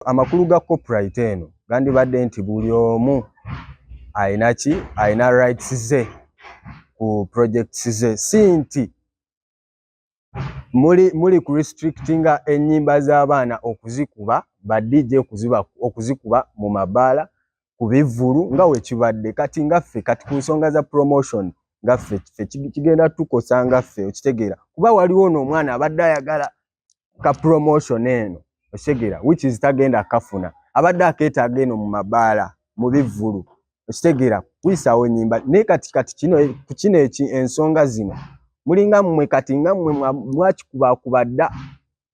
amakulu ga copyright eno gandibadde nti buli omu alina ki alina rights ze ku projects ze si nti muli muli ku restrictinga ennyimba z'abaana okuzikuba ba DJ okuziba okuzikuba mu mabaala ku bivvulu nga we kibadde kati nga ffe kati ku nsonga za promotion nga ffe ffe kigenda tukosa nga ffe okitegeera kuba waliwo ono omwana abadde ayagala ka promotion eno okitegera which is tagenda kafuna abadde akeetaaga eno mu mabaala mu bivvulu okitegera kuyisaawo nyimba naye kati kati kino ku kino eki ensonga zino mulinga mmwe kati nga mmwe mwakikubakuba dda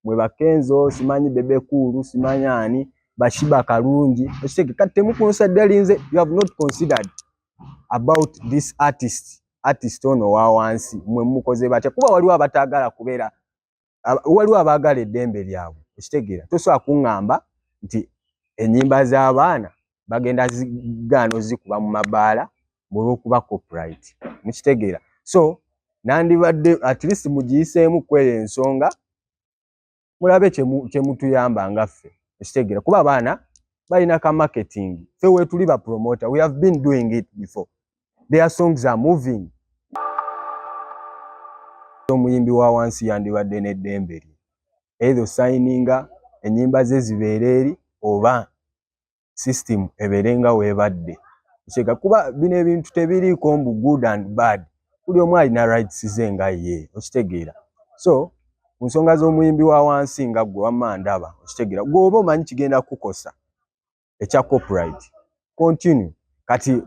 mwe bakenzo simanyi bebekuulu simanyi ani bashiba kalungi okitege kati temukunsaddalinze you have not considered about this artist artist ono wawansi mwe mukoze batya kuba waliwo abataagala kubeera waliwo abaagala eddembe lyabwe okitegeera tosobola kuŋŋamba nti ennyimba z'abaana bagenda zigaana ozikuba mu mabaala mulwokuba copyright mukitegeera so nandibadde at least mugiyiseemu kweyo ensonga mulabe kyemutuyamba nga ffe okitegeera kuba abaana balina ka marketing fe wetuli ba promoter we have been doing it before their songs are moving omuyimbi wa wansi yandibadde n'eddembe lye either osayininga ennyimba ze zibeere eri oba system ebeere nga weebadde kyeka kuba bino ebintu tebiriiko mbu good and bad buli omu alina rights ze nga ye okitegeera so ku nsonga z'omuyimbi wa wansi nga gwe wamma ndaba okitegeera gweoba omanyi kigenda kukosa ekya copyright continue kati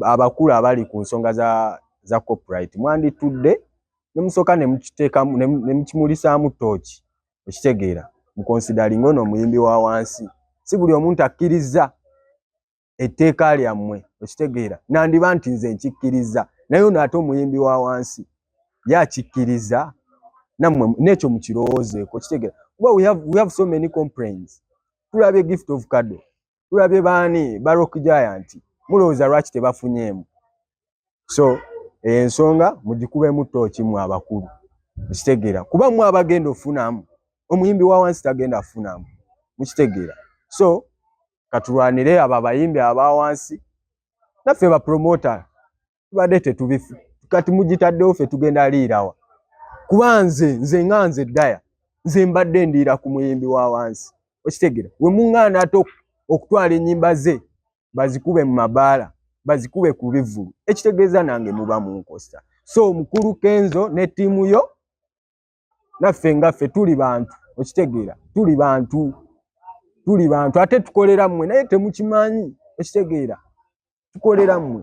abakulu abali ku nsonga za za copyright mwanditudde ne musoka ne mukiteka ne mukimulisaamu tooki okitegeera mu considering ono omuyimbi wa wansi si buli omuntu akkirizza etteeka lyammwe okitegeera nandiba nti nze nkikkiriza naye ono ate omuyimbi wa wansi ye akikkiriza nammwe n'ekyo mukirowoozeeko okitegeera kuba we have, we have so many complaints tulabye gift of kado tulabye baani ba rock giant mulowooza lwaki tebafunyeemu so eyo ensonga mugikubemu tooki mu abakulu mukitegeera kuba mu abagenda ofunamu omuyimbi wa wansi tagenda afunamu mukitegeera so katulwanire abo abayimbi aba wansi naffe bapromota tubadde tetubifu kati mugitaddewo fe tugenda liirawa kuba nze nze nga nze daya nze mbadde ndiira ku muyimbi wa wansi okitegera we muŋŋaana ate okutwala ennyimba ze bazikube mu mabaala bazikube ku bivvulu ekitegeeza nange muba munkosta so mukulu kenzo ne ttiimu yo naffe nga ffe tuli bantu okitegeera tuli bantu tuli bantu ate tukolera mmwe naye temukimanyi okitegeera tukolera mmwe